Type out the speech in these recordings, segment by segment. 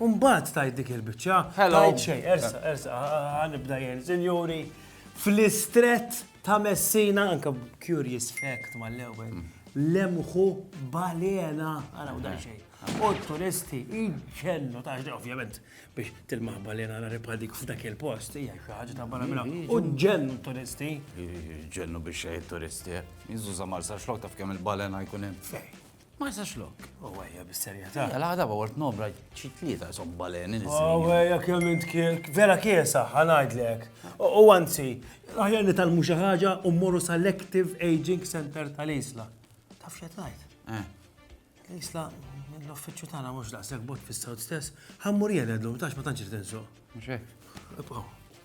U mbagħad tgħid dik il-biċċa, tgħid xejn, ersa, ersa, ħanibda jien, sinjuri, fl-istrett ta' Messina, anke curious fact mal-ewwel, lemħu balena, għaraw dan eh. xejn. U turisti iġennu ta' xejn, ovvjament, biex tilmaħ balena għara ripadik f'dak il-post, hija xi ħaġa ta' barra minna. U ġennu turisti. Ġennu biex xejn turisti, eh. jiżu zamar sa' xlok taf kemm il-balena jkun hemm. Ma jistax lok. U għajja bis-serjetà. L-għada ba wort nobra xi tlieta jsom baleni li U għajja kemm int kielk. Vera kiesa, ħanajdlek. U anzi, aħjar li talmu xi ħaġa u mmorru sal-Active Aging Center tal-Isla. Taf x'qed ngħid? Eh. L-Isla l-uffiċċju tagħna mhux daqshekk bot fis-sawt stess, ħammur jien għedlum tax ma tantx irid insuq. Mhux hekk. Ibqgħu.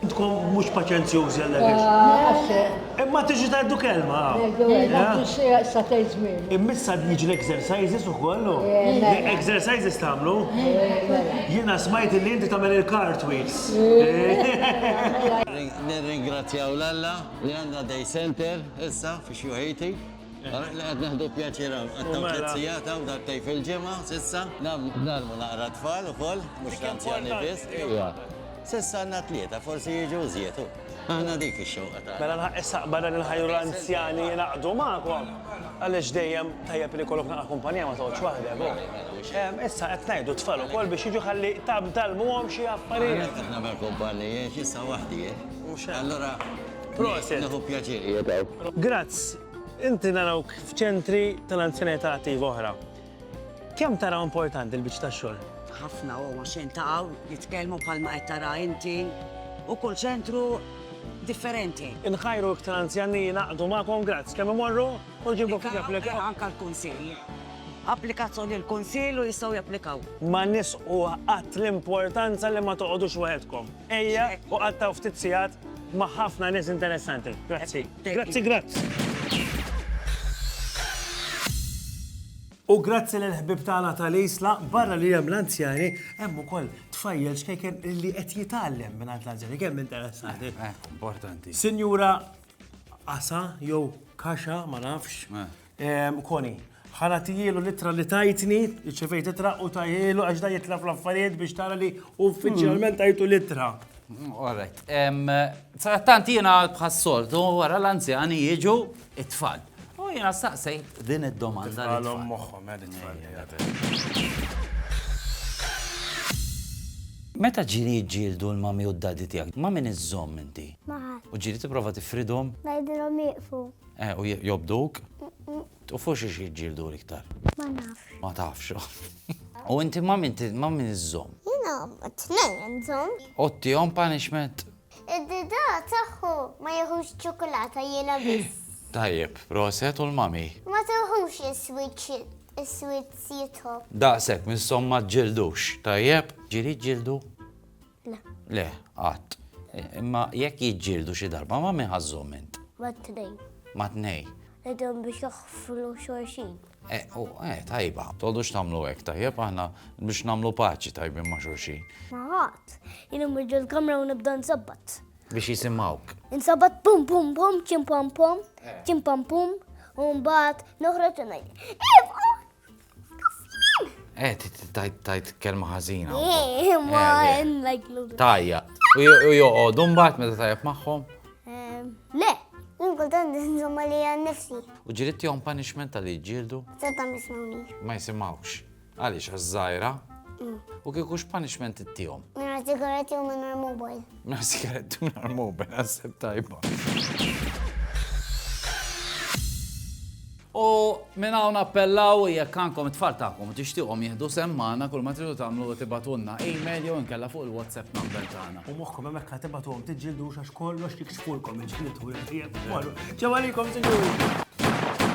Intkom mhux paċenzjużi għal dak ix. Imma tiġi tgħaddu kelma. Immissa niġi l-exercises ukoll. Exercises tagħmlu? Jiena smajt li inti tagħmel il-cartwheels. Nirringrazzjaw l-Alla li għandna day center issa fix-Xjuħiti. Ara li qed nieħdu pjaċir hawn. Qatt hawn tliet sigħat hawn darbtejn fil-ġimgħa s'issa. Nagħlmu naqra t-tfal ukoll, mhux l-anzjani biss. Ejja. S'issa għandna tlieta, forsi jiġu żjed, hu. Aħna dik ix-xewqa tagħna. Mela nħaqqi s-saqba dan il-ħajr u l-anzjani jingħaqdu magħkom. Għaliex dejjem tajjeb li jkollok naqra kumpanija ma toqgħodx waħdek, hu. Hemm, issa qed ngħidu t-tfal ukoll biex jiġu ħalli tgħallmuhom xi affarijiet. Ara kif nagħmel kumpanija, għax issa waħdi, hu. Mhux hekk. Allura. Proset. Nieħu pjaċir qiegħed hawn. Grazz, inti narawk f'ċentri tal-anzjanità attiva oħra. Kemm taraw importanti l-biċċ tax-xogħol? Ħafna u għax jiltaqgħu, jitkellmu bħalma qed tara inti u kull ċentru differenti. Inħajru iktar anzjan li jingħaqdu magħkom, grazz, kemm imorru u ġibu ftit applikaw. Anke l-kunsill. Applikazzjoni l-kunsill u jistgħu japplikaw. Ma nisqu qatt l-importanza li ma toqgħodux waħedkom. Ejja u qattgħu ftit sigħat ma' ħafna nies interessanti. Grazzi. Grazzi, grazzi. U grazzi lill-ħbieb tagħna tal-Isla, barra li hemm l-anzjani, hemm ukoll tfajjel xkejken li qed jitgħallem mingħand l-anzjani. Kemm interessanti. Eh, importanti. Sinjura Asa jew Kaxa, ma nafx. Eh. Koni, ħa nagħtihielu l-ittra li tajtni, irċevejt ittra u tajhielu għax da jitlef l-affarijiet biex tara li uffiċjalment tajtu l-ittra. Alright. Trattant jiena bħas-soltu wara l-anzjani jiġu it-tfal. U jiena staqsejt din id-domanda. Għalhom moħħhom għal it-tfal. Meta ġiri jġildu l-mami u d-dadi tiegħek, ma' min iżżomm inti? Ma' ħadd. U ġiri tipprova tifridhom? Ngħidilhom jieqfu. Eh, u jobduk? U fuq xiex jġildu l-iktar? Ma nafx. Ma tafx. U inti ma min ma min iżżom? Jina, t-tnejn iżżom. U t-tijom punishment? Id-dida taħħu ma jħux ċokolata jina biss. Tajjeb, proset u l-mami. Ma tuħux is-switch jitħob. Daqsek, mis-somma ġildux. Tajjeb, ġiri ġildu. Le. Le, qatt. Imma jekk jiġġieldu xi darba ma' min ħażżhom int? Ma' tnejn. Ma' tnejn. Qegħdhom biex joħflu xorxin. Eh, u, eh, tajba. Tgħodux tagħmlu hekk, tajjeb aħna biex nagħmlu paċi tajbin ma' xorxin. Ma' ħadd. Jien immur ġol kamra u nibda nsabbat. Biex jisimgħuk. Insabbat pum pum pum, ċim pam pum, ċim pam pum, u mbagħad noħroġ u ngħid. Eh, tajt kelma ħażina. Eh, ma eh, eh. like Tajja. U joqogħdu mbagħad meta tajjeb magħhom? Ehm, le, kultant nżomma li għan nifsi. U ġirit jom punishment għal ġildu? Seta mismawni. Ma jisimawx. Għaliex għaż-żajra? Mm. U kieku x'punishment ittihom? Nara sigaretti u minn mobile. Nar sigaret u nar moben, għasib tajba. U minn hawn appellaw jekk għandkom it-tfal tagħkom tixtieqhom jieħdu semmana kull ma tridu tagħmlu tibatunna email jew inkella fuq il-WhatsApp number tagħna. U moħħkom hemmhekk ħa tibatuhom tiġġildu għax kollox jiksfulkom il-ġniet u l-ħjieb. Ġew għalikom, sinjuri.